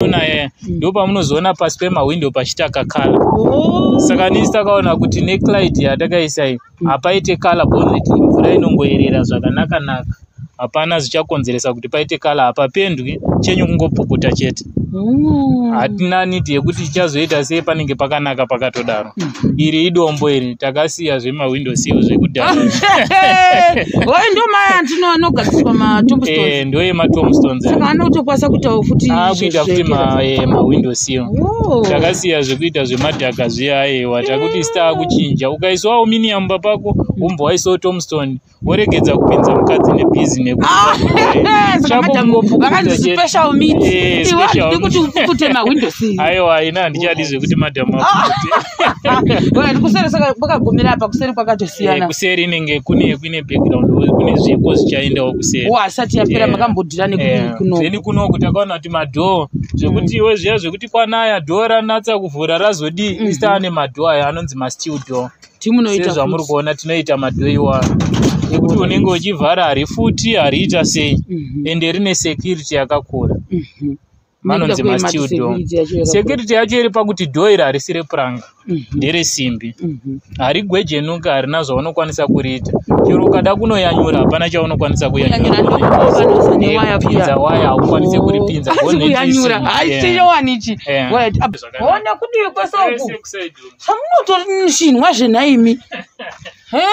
Ona eh, mm. ndipo pamunozoona pasi pemahwindo pachita kakala oh. saka nisi takaona kuti neclid yatakaisa iyi mm. hapaite kala bonnet mvura inongoerera zvakanaka naka hapana zvichakonzeresa kuti paite kala hapapendwi chenyu kungopukuta chete mm. hatina nidi yekuti chichazoita sei panenge pakanaka pakatodaro iri idombo iri takasiya zvemawindow seal zvekudhara oyo ndo maya andino anogadziswa matombstones eh, ndo yematombstones saka ana kutokwanisa kuitawo futi akuita ah, futi eh, mawindow seal takasiya zvekuita zvemadhaka zviya ayewa takuti star kuchinja ukaiswa aluminium papako umbo waisawo tombstone mm. woregedza kupinza mukadzi nebhizi nekuaiwa ina handichadi zvekuti madhamu ndikuserikwakagumira apa kuseri kwakatosiyana eh, kuseri inenge kune kune background kune zvipo zvichaendawo kuseri asati yapera eh, makambodira nekuno eh, kunoku takaona kuti madhoo zvekuti iwe zviya zvekuti kwanaya dhoo ranatsa kuvhura razodii mhm. istaa nemadhoo aya anonzi mastill door mm -hmm. sezvamuri kuona tinoita madoiwa nekuti unenge uchivhara hari futi hariita sei mhm. ende rine security yakakura mhm. vanonzi mastil do security yacho iri pakuti do iri harisi repuranga mhm. ndere simbi harigwejenuka harina zvaunokwanisa kuriita chero ukada kunoyanyura hapana chaunokwanisa kuyanyurapinza waya haukwanise oh. kuripinza samunotonishinwa zvenaimi he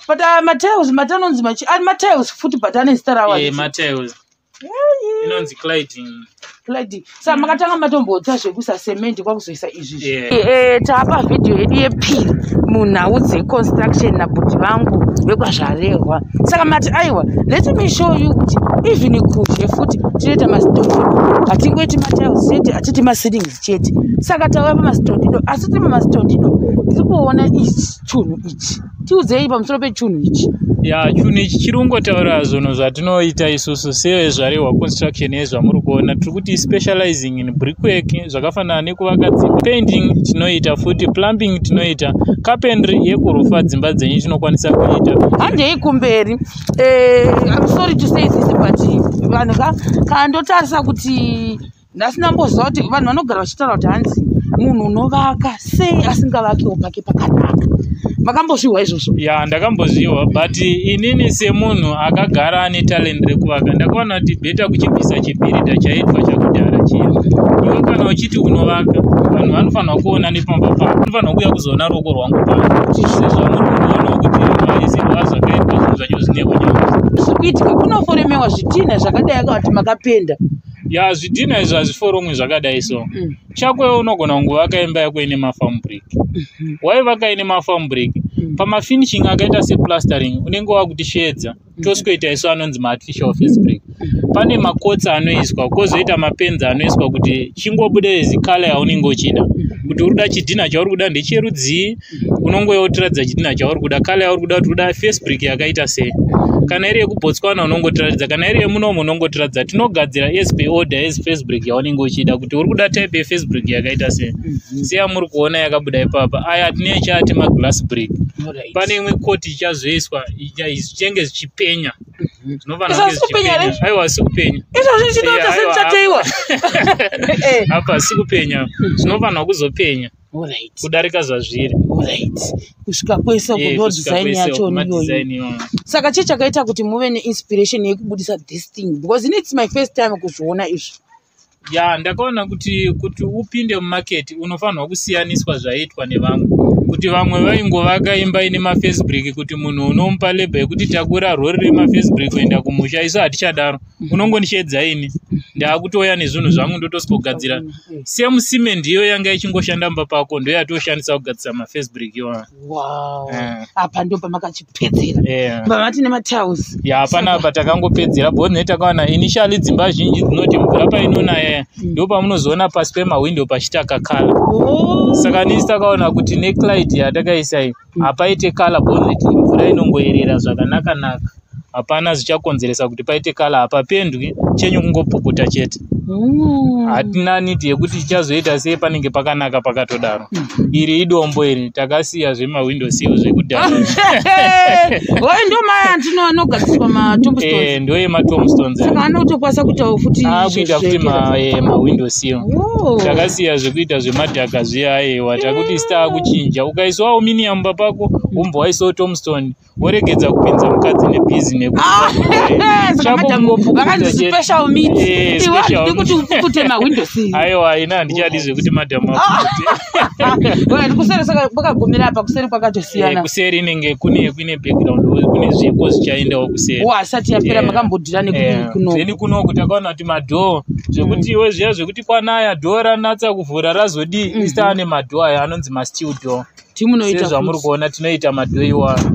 but uh, matiles mati anonzi machi ari matiles futi but ane zita rawo eh, matiles inonzi cliding cliding sa makatanga matombotsa zvekuisa cement kwakuzoisa izvi eh, eh, taapa vhidhiyo yedu yepiri munhau dzeconstruction nabuti vangu vekwazvarehwa saka mati aiwa let me show you kuti even kuzhe futi tinoita mastondido hatingoiti matiles chete hatiti maseedings chete saka tauya pamastondido asi tiri pamastondido tiri kuona ichi chunhu ichi tiudzei pamusoro pechunhu ichi ya chunhu ichi chiri kungotaura zvunhu zvatinoita isusu sevezvarehwa construction yezvamuri kuona tiri kuti specializing in brickwork zvakafanana nekuvaka dzimba painting tinoita futi plumbing tinoita carpentry yekurufa dzimba dzenyu tinokwanisa kuita handei kumberi eh, im sorry to say this but vanhu ka kana ndotarisa kuti nhasi ndamboziva kuti vanhu vanogara vachitaura kuti hanzi munhu unovaka sei asingavakewo pake pakanaka makambozvihwa izvozvo ya ndakambozvihwa but inini semunhu akagara ane talent rekuvaka ndakaona kuti beta kuchibvisa chibhirida chaitwa chakudhara chiya iwe kana uchiti unovaka vanhu vanofanira kuona nepamba pako unofanira kuuya kuzoona ruoko rwangu pano sezvamuri kuona kuti vaisirwa zvakaitwa zvinhu zvacho zvine unyama zviri kuitika kunoforemewa zvitinha zvakadai akavati makapenda ya zvidhina izvo hazviforomwi zvakadai so mm. chako iwe unogona kunge vakaimba yako ine mafarm break mhm. waivaka ine mafarm break mhm. pamafinishing akaita seplastering unenge wakuti sheedza mhm. tosikoita isu anonzi maartificial face break pane makotsi anoiswa kozoita mapenzi anoiswa kuti chingobude zikala yaunenge uchida kuti uri kuda chidhina chauri kuda ndecherudzii unongouya wotiratidza chidhina chauri kuda kale yauri kuda kuti kuda face brick yakaita sei kana iri yekubotswana unongotiratidza kana iri yemunomu unongotiratidza tinogadzira as per order as face brick yaunenge uchida kuti uri kuda type yeface brick yakaita sei mhm. seyamuri kuona yakabuda ipapa aya tine chati maglass brick pane imwe koti ichazoiswa zvichenge zvichipenya aiwa sikupenya izvozvi chinoita semuchateiwa apa sikupenya zvinofanirwa kuzopenya Alright. kudarika zvazviri Alright. kusvika kwese uko Eh, ndo kusvika design kwese yacho uko, ma ndiyoyi design iwayo. saka chii chakaita kuti muve neinspiration yekubudisa this thing because ini its my first time kuzviona izvi ya ndakaona kuti kuti upinde mumaketi unofanirwa kusiyaniswa zvaiitwa nevamwe kuti vamwe vaingovaka imba ine mafacebrik kuti munhu unomupa lebha yekuti takura rori remafacebrik kuenda kumusha isu hatichadaro unongondichedza ini ndaakutouya nezvinhu zvangu ndotosogadzira same cement iyo yanga ichingoshanda mba pako ndo yatoshandisa kugadzisa mafirst break iwaa eh. apa ndo pamakachipedzera eh. pamati nemataus ya hapana apa takangopedzera bcause ne takawana initially dzimba zhinji dzinoti mvura painonaya mm. ndo pamunozoona pasi pemahwindo pachitakakala oh. saka nisi takaona kuti neclid yatakaisai hapaite kala bonnet mvura inongoyerera zvakanaka naka hapana zvichakonzeresa kuti paite kala hapapendwi chenyu kungopukuta chete mm. hatina nidi yekuti chichazoita sei panenge pakanaka pakatodaro mm. iri idombo iri takasiya zvemahwindo siyo zvekudhara oyo ndo maya andino anogadziswa matomstones eh, ndoye matomstones saka anotokwanisa kuitawo futi akuita ah, futi mahwindo eh, siyo takasiya zvekuita zvemadhaka aiwa takuti star kuchinja ukaiswa aluminium papako umbo waisawo tomstone woregedza kupinza mukadzi nebhizi nekuaiwa ina handichadi zvekuti madam kwakagumira apa kuseri kwakatosiyana eh, kuseri inenge kune kune background kune zvipo zvichaendawo kuseri asati yapera eh, makambodira nekuno eh, kunoku takaona kuti madhoo zvekuti iwe zviya zvekuti kwanaya door ranatsa kuvhura razodii mm -hmm. ista ane madoor aya anonzi masteel door timunoita zvamuri kuona tinoita madoor iwayo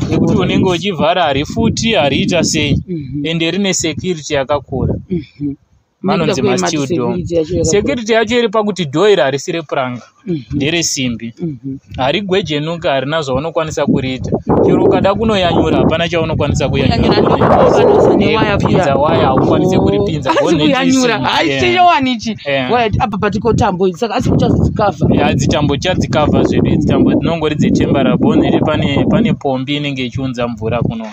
nekuti unenge uchivhara hari futi hariita sei mm -hmm. ende rine security yakakura mm -hmm. manonzi masteel door security yacho iri pakuti door iri harisi repuranga Mhm. ndere simbi Mhm. harigwejenuka harina zvaunokwanisa kuriita chero ukada kunoyanyura hapana chaunokwanisa Kunyanyura ndokuva nozane waya kuya. kuyanyurapinza waya haukwanise kuripinza Asi Bonnet kuyanyura isimbi, haisi yeah. chewani ichi Yeah. Waya, apa patiko tambo idzi saka asi kuchazozikavha Ya, dzitambo chadzikavha zvedu idzi tambo dzinongori dzechembara bonnet pane pane pombi inenge ichiunza mvura kuno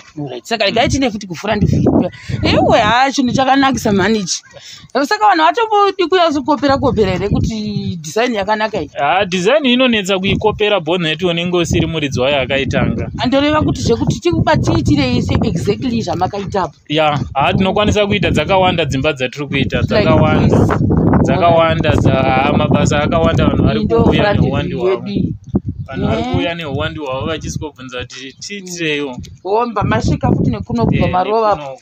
saka regai tiine futi kufura ndifira ewe haa chinhu chakanakisa mhani ichi saka vanhu vatombodi kunyatsokuopera kuopera here kuti design yakanaka iyi ha design inonetsa kuikopera bonnet unenge usiri muridzi wayo akaitanga andoreva kuti zvekuti tikubatiitirei se exactly zvamakaitapo ya ha tinokwanisa kuita dzakawanda dzimba dzatiri kuita dzakawanda dzakawanda mabasa akawanda vanhu vari kuuya neuwandi wavo vanhu vari kuuya eh. neuwandi hwavo vachizikobvunza kuti tiitireiwo homba masvika futi nekuno kubva eh, marovapo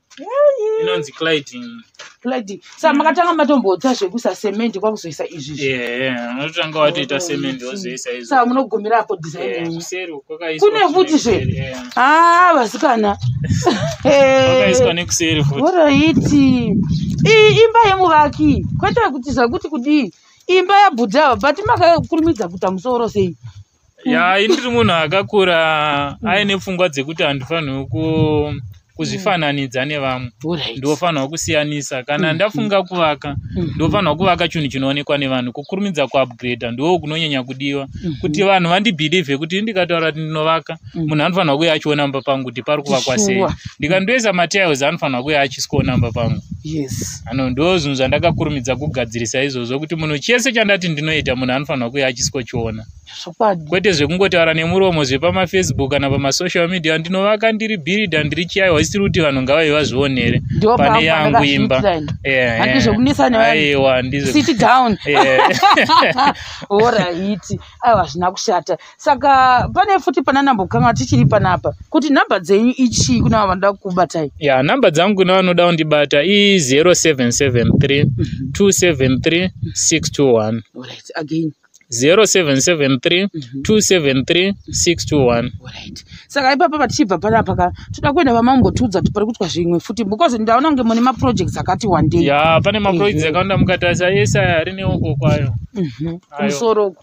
inonzi cliding cliding sa makatanga matomboita zvekuisa cement kwakuzoisa izvi yeah unotanga watoita cement wozoisa izvi sa munogumira apo design kuseri kwakaiswa kune futi zve ah vasikana kwakaiswa nekuseri futi woroiti imba yemuvaki kwete kuti zvakuti kudii imba yabhudhava but makakurumidza kuita musoro sei ya ini ndiri munhu akakura mm. aine pfungwa dzekuti handifanirwi ku kuzvifananidza mm. nevamwe ndofanirwa kusiyanisa kana mm. ndafunga kuvaka mm. ndofanirwa kuvaka chinhu chinoonekwa nevanhu kukurumidza kuupgrade ndoo kunonyanya kudiwa kuti vanhu vandibhilivhe kuti ndikataura kuti ndinovaka Mm. munhu anofanirwa kuya achiona mumba pangu kuti pari kuvakwa sei ndikandoisa matiles anofanirwa kuya achisikoona mumba pangu yes ano ndo zvinhu zvandakakurumidza kugadzirisa izvozvo kuti munhu chese chandati ndinoita munhu anofanirwa kuya achisikochiona kwete zvekungotaura nemuromo zvepamafacebook kana pamasocial media ndinovaka ndiri birida ndiri chiyai wasiri kuti vanhu ngavai vazvionere pane yangu imba aiwa ndizvo saka pane futi pana number kukanga tichiri panapa kuti number dzenyu ichii kuna vanoda kukubatai ya number dzangu kuna vanoda kundibata i 0773 273 621 right again 0773 273 621 right saka ipapa patichibva panapa ka toda kuenda vamambotiudza kuti pari kuitwa zvimwe futi because ndaona kunge mune maprojects akati wandei ya pane maprojects Mhm. akawanda mukatarisa ese aya ari neoko kwayo Mhm. Ayo. kumusoro uko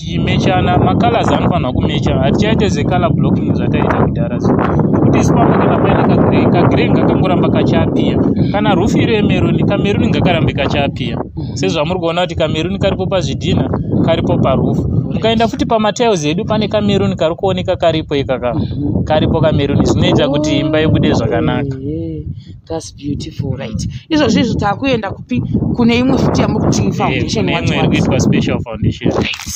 tichimechana macolors anofanirwa kumecha hatichaite zecolor blocking zvataita kudhara so kuti isu pamba kana paine kagrey kagrey ngakangoramba kachapiya kana rufu iro yemeruni kameruni ngakarambe kachapiya sezvamuri kuona kuti kameruni karipo pazvidhina karipo parufu ukaenda futi pamatiles edu pane kameruni kari kuoneka karipo ikaka karipo kameruni zvinoita kuti imba ibude zvakanaka that's beautiful right izvozvo izvo taakuenda kupi kune imwe futi yamuri kuti foundation eh, kuitwa special foundation right.